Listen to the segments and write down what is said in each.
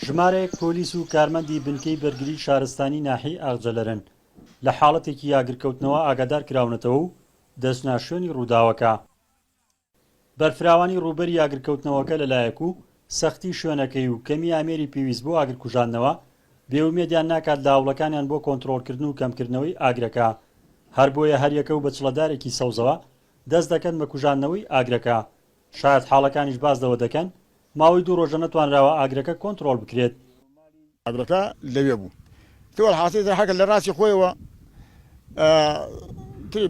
ژمارەیەک پۆلیس و کارمەندی بنکەی بەرگری شارستانی ناحیەی ئاغجەلەرن لە حاڵەتێکی ئاگرکەوتنەوە ئاگادار کراونەتەوە و دەچنە شوێنی ڕووداوەکە. بەرفراوانی ڕووبەری ئاگرکەوتنەوەکە لەلایەک و سەختی شوێنەکەی و کەمی ئامێری پێویست بۆ ئاگرکوژاندنەوە بێ ئومێدیان ناکات لە هەوڵەکانیان بۆ کۆنتڕۆڵکردن و کەمکردنەوەی ئاگرەکە، هەربۆیە هەریەکە و بە چڵەدارێکی سەوزەوە دەست دەکەن بە کوژاندنەوەی ئاگرەکە شایەتحاڵەکانیش باس لەوە دەکەن، ماوەی دوو رۆژە نەتوانراوە ئاگرەکە کۆنتڕۆڵ بکرێت. ئاگرەکە لەوێ بوو. تۆ الحاصل ئیتر حەکە لە راستی خۆیەوە تری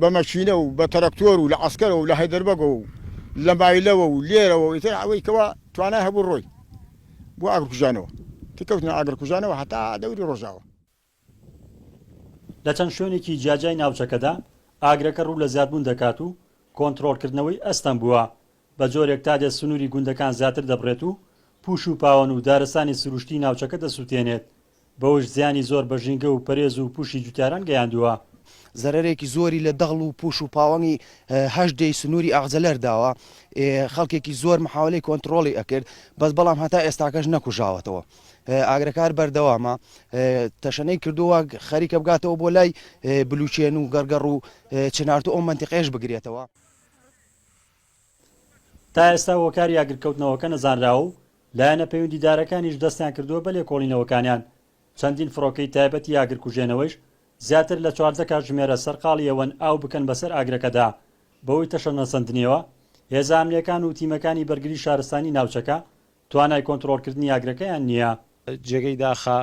بە مەکینە و بە تەرەکتۆر و لە عەسکەرەوە و لە هەیدەربەگەوە و لە مایلەوە و لێرەوە و ئیتر ئەوەی کەوا توانای هەبوو رۆی بۆ ئاگرکوژانەوە. ئیتر کەوتنە ئاگرکوژانەوە هەتا دەوری رۆژاوا. لە چەند شوێنێکی جیاجیای ناوچەکەدا ئاگرەکە ڕوو لە زیادبوون دەکات و کۆنترۆڵکردنەوەی ئەستەم بووە، بە جۆرێک تا دێت سنووری گوندەکان زیاتر دەبڕێت و پووش و پاوەن و دارستانی سروشتیی ناوچەکە دەسووتێنێت، بەوەش زیانی زۆر بە ژینگە و پەرێز و پووشی جووتیاران گەیاندووە. زەرەرێکی زۆری لە دەغڵ و پووش و پاوەنی هەشت دێی سنووری ئاغجەلەر داوە، خەڵکێکی زۆر محاوەلەی کۆنترۆڵی ئەکرد، بەس بەڵام هەتا ئێستاکەش نەکوژاوەتەوە. ئاگرەکار بەردەوامە تەشەنەی کردووە خەریکە بگاتەوە بۆ لای بلوچێن و گەڕگەڕ و چنارتو ئەو منتیقێش بگرێتەوە. تا ئێستا هۆکاری ئاگرکەوتنەوەکە نەزانراوە و لایەنە پەیوەندیدارەکانیش دەستیان کردووە بە لێکۆڵینەوەکانیان، چەندین فڕۆکەی تایبەتی ئاگرکوژێنەوەیش زیاتر لە چواردە کاتژمێرە سەرقاڵی ئەوەن ئاو بکەن بەسەر ئاگرەکەدا، بەهۆی تەشەنەسەندنیەوە هێزە ئەمنییەکان و تیمەکانی بەرگری شارستانی ناوچەکە توانای کۆنترۆڵکردنی ئاگرەکەیان نییە. جێگەی داخە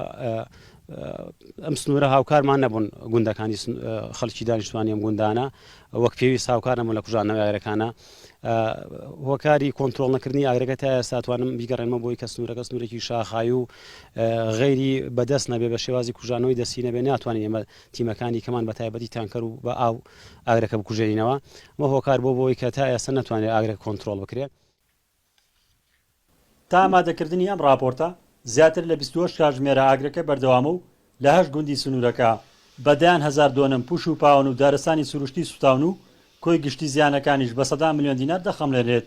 ئەم سنوورە هاوکارمان نەبوون گوندەکانی خەڵکی دانیشتوانی ئەم گوندانە وەک پێویست هاوکار نەبوون لە کوژانەوە ئاگرەکانە هۆکاری کۆنتترۆل نەکردنی ئاگرەکە تا ئێستاتوانم بیگەڕێنمە بۆی کە سنوورەکە سنوورێکی شاخایی و غەیری بەدەست نەبێ بە شێوازی کوژانەوەی دەستی نەبێ ناتوانین ئێمە تیمەکانی کەمان بە تایبەتی تانکەر و بە ئاو ئاگرەکە بکوژێنینەوە مە هۆکار بۆ بۆی کە تا ئێستا نتوانێت ئاگرە کۆنتترۆل بکرێت تا ئامادەکردنی ئەم ڕاپۆرتە، زیاتر لە بیست و هەشت کاتژمێرە ئاگرەکە بەردەوامە و لە هەشت گوندی سنوورەکە بە دەیان هەزار دۆنم پوش و پاوەن و دارستانی سروشتی سووتاون و کۆی گشتی زیانەکانیش بە سەدان ملیۆن دینار دەخەمڵێنێت.